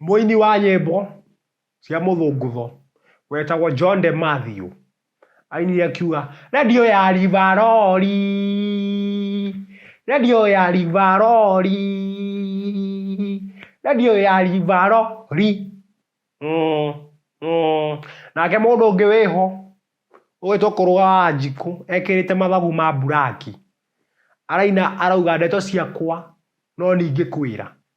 Mũini wa nyĩmbo cia mũthũngũtho wetagwo John de Matthew ainire akiuga redio ya rivarori redio ya rivarori redio ya rivarori mm, mm. nake mũndũ ũngĩ wĩho ũgĩtwo kũrũga wa njikũ ekĩrĩte mathagu ma mburaki araina arauga ndeto ciakwa no ningĩ kwĩra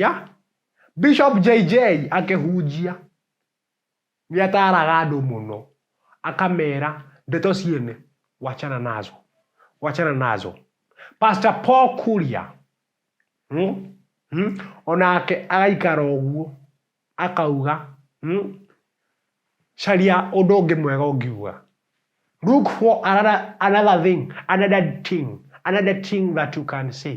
ya Bishop JJ akĩhunjia nĩ ataaraga andũ mũno akamera ndeto ciene wachana nazo wachana nazo Pastor Paul Kuria hmm? Hmm? onake agaikara ũguo akauga hmm? caria ũndũ ũngĩ mwega ũngiuga look for another, another thing another thing another thing that you can say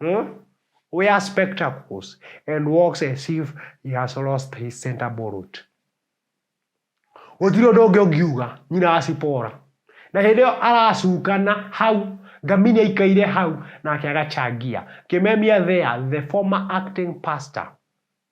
Hmm? We are spectacles and walks as if he has lost his center bullet. Gũtirĩ ũndũ ũngĩ ũngiuga nyina wa Sipora. Na hĩndĩ ĩyo aracukana hau ngamini aikaire hau nake agachangia. Kimemia there the former acting pastor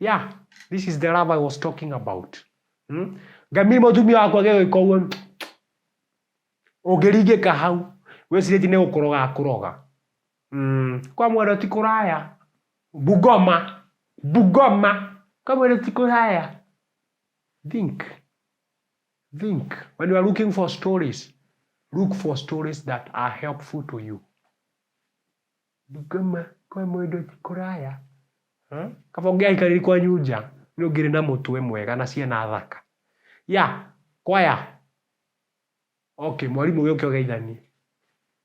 yeah this is the love i was talking about hmm? ngami mutumia wakwa gĩgĩka ũguo ũngĩringĩka hau wĩcirĩtie nĩ gũkũroga akũroga mm. kwa mwendo ti kũraya bugoma bugoma kwa mwendo ti kũraya think think when you are looking for stories look for stories that are helpful to you Ndũkauma kwa mũndũ ti kũraya. Kaba ũngĩaikarire kwanyu nja nĩ ũngĩrĩ na mũtwe mwega na ciana thaka. Yeah, kwaya. Okay, mwarimũ gĩũke ũgeithanie.